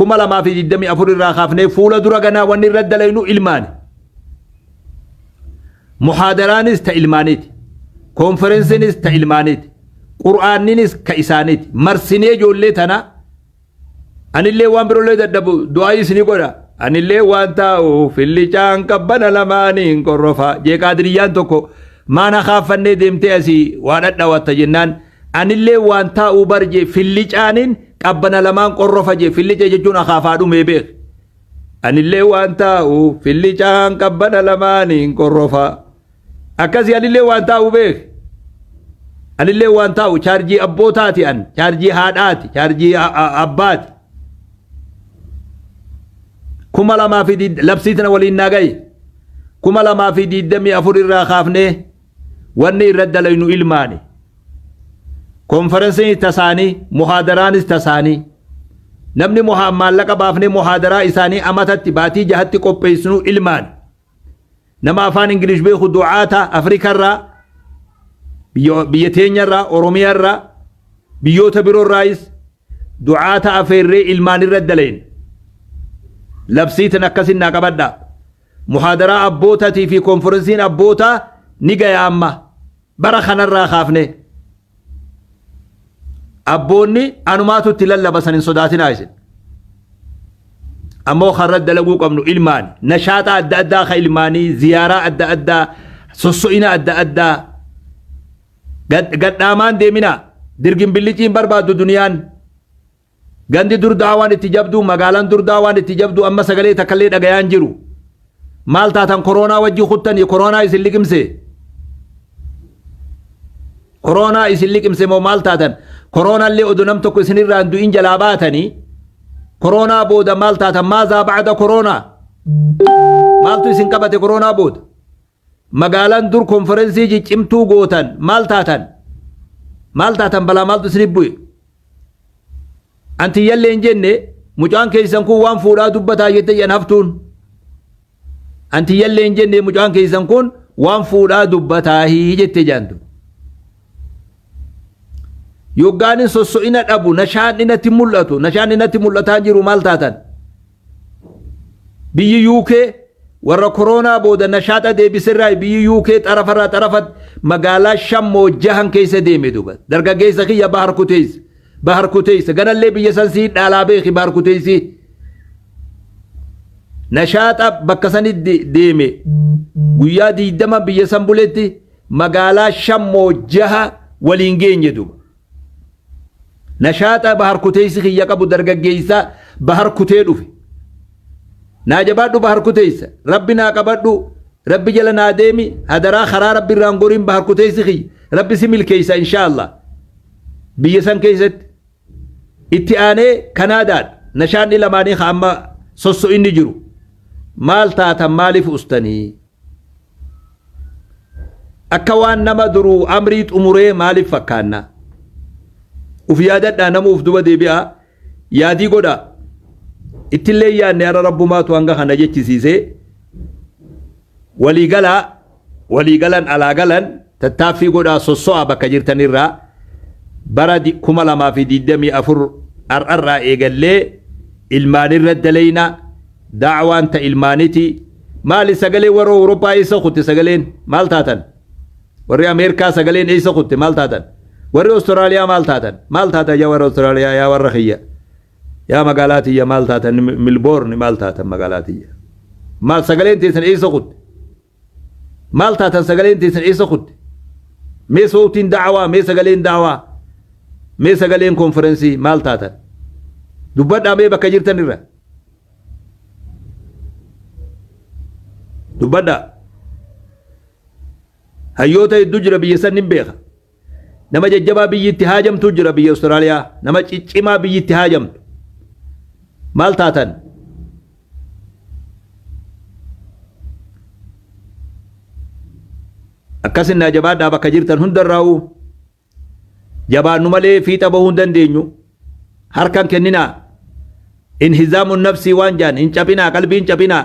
2024 irraa kaafnee fuula dura ganaa wanni irra dalaynu ilmaani. Muhaadaraanis ta ilmaaniiti. Koonferensiinis ta ilmaaniiti. Qur'aanninis ka isaaniiti. Marsinee ijoollee tana anillee waan birollee dadhabu du'aa isinii godha. Anillee waan taa'uuf fillichaan qabbana lamaaniin qorrofa. Jeeqaa diriyyaan tokko maana kaaffannee deemtee asii waa dhadhawatta jennaan Anillee waan taa'uu bar jee fillicaanin qabbana lamaan qorrofa jee fillica jechuun akaafaa dhumee beek. Anillee waan taa'uu fillicaan qabbana lamaaniin qorrofa. Akkasii anillee waan taa'uu beek. Anillee waan taa'u chaarjii abbootaati an chaarjii haadhaati chaarjii abbaati. Kuma lamaa fi labsiitina waliin naa gahe. Kuma lamaa fi digdamii afur irraa kaafnee. wanni irra dalaynu ilmaani konferensiin tasaanii muhaadaraanis tasaanii namni muhaa maallaqa baafnee muhaadaraa isaanii amatatti baatii jahatti qopheessinu ilmaani nama afaan ingilish beeku du'aata afrikarraa biyya biyya teenyarraa oromiyaarraa biyyoota biroorraayis du'aata afeerree ilmaan irra dalayin labsiitan akkasin naa qabadhaa Muhaadaraa Abbootatii fi Konforansiin Abbootaa ni gaya amma. Bara kanarraa kaafnee. Abboonni anumaatu itti lallaba san hin sodaatinaa isin. Ammoo kan irratti dalaguu qabnu ilmaani. Nashaaxa adda addaa ka ilmaanii, ziyaaraa adda addaa, sosso'ina adda addaa. Gad- Gadhaamaan deeminaa. Dirgin billiciin barbaaddu duniyaan. Gandi dur daawaan itti jabdu, magaalan dur daawaan itti jabdu amma sagalee takkallee dhagayaa hin jiru. Maal taatan koroonaa wajji kuttanii koroonaa isin liqimse? Koroonaa isin liqimse moo maal taatan? Koroonaallee odoo nam tokko isinirraa hin du'in jalaa baatanii koroonaa booda maal taatan? Maazaa ba'ada koroonaa? Maaltu isin qabate koroonaa booda? Magaalaan dur konferensii ciccimtuu gootan maal taatan? Maal taatan balaa maaltu isinif bu'e? An tiyyallee hin jenne mucaan keessan kun waan fuudhaa dubbataa jette jedhan haftuun. An tiyyallee hin jenne mucaan keessan kun waan fuudhaa dubbataa jette jedhantu. Yoggaanin sosso'ina dhabu nashaan dhinatti mul'atu nashaan dhinatti mul'ataa jiru maal taatan? Biyyi UK warra koroonaa booda nashaaxa deebiserraayi biyyi UK xarafarraa xarafatti magaalaa shan moo jahan keessa deeme duba dargaggeessa kiyya bahar kuteessa bahar kuteessa ganallee biyya san sii dhaalaa beeki bahar kuteessi nashaaxa bakka sanitti deeme guyyaa diidama biyya san buletti magaalaa shan moo jaha waliin geenye duba. Nashaaxaa Bahar Kuteessi kiyya qabu dargaggeessaa Bahar Kutee dhufe. Naa jabaadhu Bahar Kuteessa. Rabbi naa qabadhu. Rabbi jala naa deemi. Hadaraa karaa Rabbi irraan goriin Bahar Kuteessi kiyya. Rabbi si milkeessa inshaallah. Biyya san keessatti. Itti aanee Kanaadaadha. Nashaadni lamaanii ka amma sosso'inni jiru. Maal taatan maaliif ustanii? Akka waan nama duruu amrii xumuree maaliif fakkaanna? Uf yaadadhaa namuu uf duba deebi'aa yaadii godhaa. Ittillee hin yaadne har'a Rabbumaatu hanga kana jechisiisee. Walii galaa, walii galan alaa galan tattaaffii godhaa sosso'aa bakka jirtanirraa bara 2024 har'arraa eegallee ilmaanirra daleeyna. Da'awaan ta ilmaanitii maali sagalee warra Owuroppaa eessa kutte sagaleen maal taatan? Warri Ameerkaa sagaleen eessa kutte maal taatan? Warri Ostiraaliyaa maal taatan? Maal taatan yaa warra Ostiraaliyaa yaa warra kiyya yaa magaalaa tiyya maal taatan Milboorni maal taatan magaalaa tiyya? Maal sagaleen teessan eessa kutte? Maal taatan sagaleen teessan eessa kutte? Mee sowtiin da'awaa, mee sagaleen da'awaa, mee sagaleen konferensii maal taatan? Dubbadhaa mee bakka jirtan irra. Dubbadhaa. Hayyoota hedduu jira biyya san nin beeka. Nama jajjabaa biyyi itti haajamtuu jira biyya Australia. Nama ciccimaa biyyi itti haajamtu. Maal taatan? Akkas innaa jabaadhaa bakka jirtan hundarraa'u jabaannu malee fiixa bahuu hin dandeenyu. Harkan kenninaa. Inhizaamun nafsii waan jaan hin caphinaa qalbii hin caphinaa.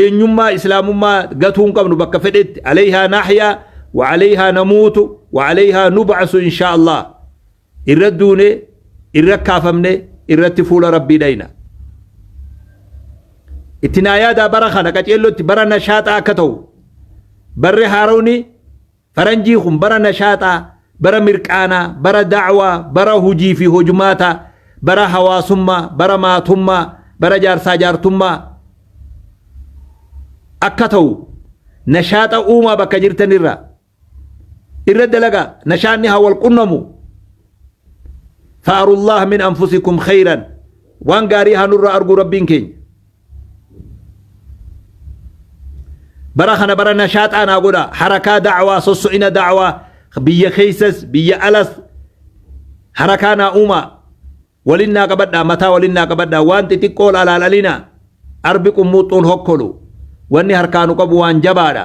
eenyummaa islaamummaa gatuu hin qabnu bakka fedhetti alayhaa nahyaa wa alayhaa namuutu wa alayhaa nub'asu inshaa Allah irra duune irra kaafamne irratti fuula rabbii dhayna itti naa yaadaa bara kana qaceellotti bara nashaaxaa akka ta'u barri haaroni Faranjii kun bara nashaaxaa, bara mirqaanaa, bara da'waa, bara hojii fi hojmaataa, bara hawaasummaa, bara maatummaa, bara jaarsaa jaartummaa akka ta'u nashaaxa uumaa bakka jirtan irraa. Irra dalagaa nashaanni haa wal qunnamu. Fa'arullaah min anfusikum khayran. Waan gaarii haa nurraa arguu Rabbiin keenya. bara kana bara nashaaxaa naa godha harakaa da'awaa sosso'ina da'awaa biyya keessas biyya alas harakaa naa uumaa walin naa qabadhaa mataa walin naa qabadhaa waan xixiqqoo laalaalalina arbi qummuuxxuun hokkolu wanni harkaanu qabu waan jabaadha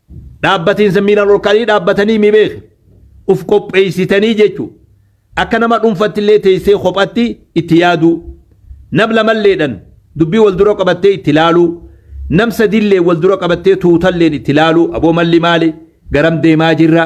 Dhaabbatiinsa miilan ol ka'anii dhaabbatanii mi beeki. Uf qopheessitanii jechuu. Akka nama dhunfattillee teessee kophatti itti yaaduu. Nam lamalleedhan dubbii wal dura qabattee itti laaluu. Nam sadilleen wal dura qabattee tuutalleen itti laaluu aboo malli maali? Garam deemaa jirra?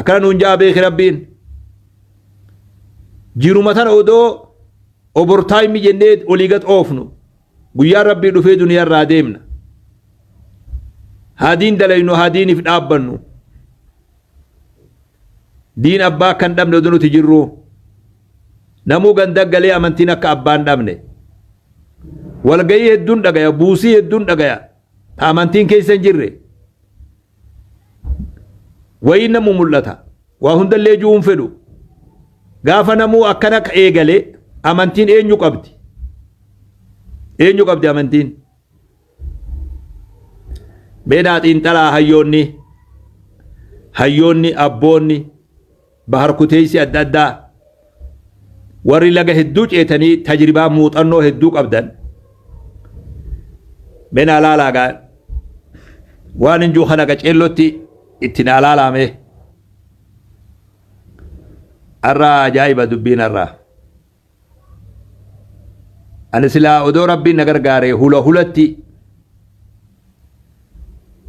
akkana nuun ja'a beeki rabbiin jiruma tana odoo obortaayimi jennee olii gad oofnu guyyaa rabbii dhufee duniyaa irraa deemna haa diin dalaynu haa diiniif dhaabbannu diin abbaa akka hin dhabne oduu nuti jirru namuu ganda galee amantiin akka abbaa hin dhabne walgayii hedduun dhagaya buusii hedduun dhagaya ta amantiin keessa hin jirre wayii namu mul'ata waa hundallee ju'uun fedhu gaafa namuu akkana eegale amantiin eenyu qabdi eenyu qabdi amantiin meenaa xiinxalaa hayyoonni hayyoonni abboonni Bahar kuteessi adda addaa warri laga hedduu ceetanii tajribaa muuxannoo hedduu qabdan menaa laalaagaa waan hin juu kana qaceellotti itti naa laalaamee arraa ajaa'iba dubbiin arraa. Ani silaa odoo Rabbiin na gargaaree hula hulatti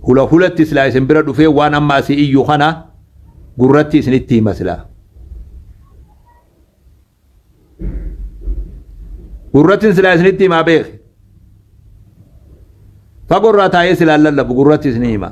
hula hulatti silaa isin bira dhufee waan amma asii iyyu kana gurratti isinitti hima silaa. Gurrattiin silaa isinitti himaa beeki. Fagorraa taa'ee silaa lallabu gurratti isinii hima.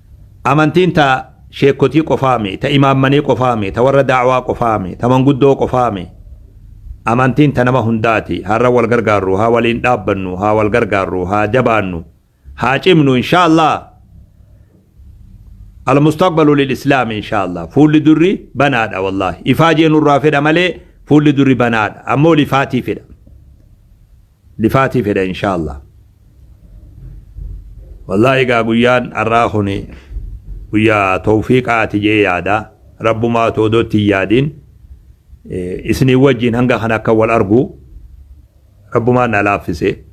Amantiin ta sheekkotii qofaa mi, ta imaammanii qofaa mi, ta warra da'awaa qofaa mi, ta manguddoo qofaa mi? Amantiin ta nama hundaati. Har'a wal gargaarru, haa waliin dhaabbannu, haa wal gargaarru, haa jabaannu, haa cimnu inshaa Allaah. Al-mustaqbalu lil-islaam inshaa Allaah. Fuulli durri banaadha wallaahi. Ifaajee nurraa fedha malee fuulli durri banaadha. Ammoo lifaatiifidha. Dhifaatii fedha inshallah. Wallahi egaa guyyaan arraa kuni guyyaa towfiiqaati jee yaada rabbumaatu odoo itti hin yaadin isiniin wajjiin hanga kana akka wal argu rabbumaan na laaffise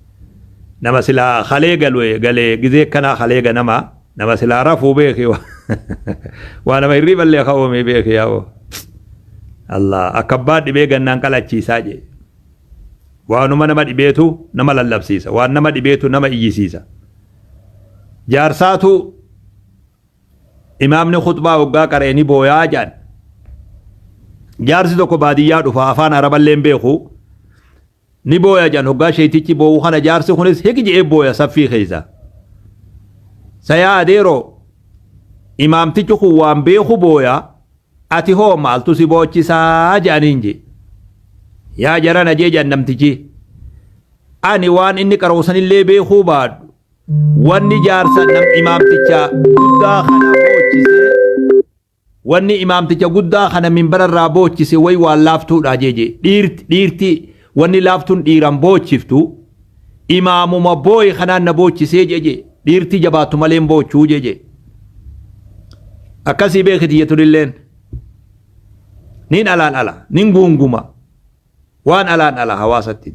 nama silaa kalee galue galee gizee kanaa kalee ganama nama silaa rafuu beeki waa nama hirriiballee kaoomee beeki yaa'oo Allah akka abbaa dhibee gannaan qalachiisaa jee Waanuma nama dhibeetu nama lallabsiisa. Waan nama dhibeetu nama iyyisiisa. Jaarsaatu imaamni khutbaa hoggaa qara'e ni booyaa jedhan. Jaarsi tokko baadiyyaa dhufa afaan araballee hin beeku. Ni booya jedhan hoggaa sheeytichi boo'u kana jaarsi kunis hik je'ee booya saffii keessa. Sayaa adeeroo imaamtichi kun waan beeku booya Ati hoo maaltu si boochisaa jedhaniin jee. Yaa jarana jee jedhan namtichii. Ani waan inni qaroosanillee beekuu baadhu wanni jaarsa nam imaamticha guddaa kana boochise wanni imaamticha guddaa kana minbararraa boochise way waan laaftuudha jee jee dhiirti dhiirti Wanni laaftun dhiiran boochiftu imaamuma booye kanaan na boochisee jeje dhiirti jabaattu malee hin boochuu jeje akkasii beekiti jetunilleen nin alaan ala nin guunguma waan alaan ala hawaasatti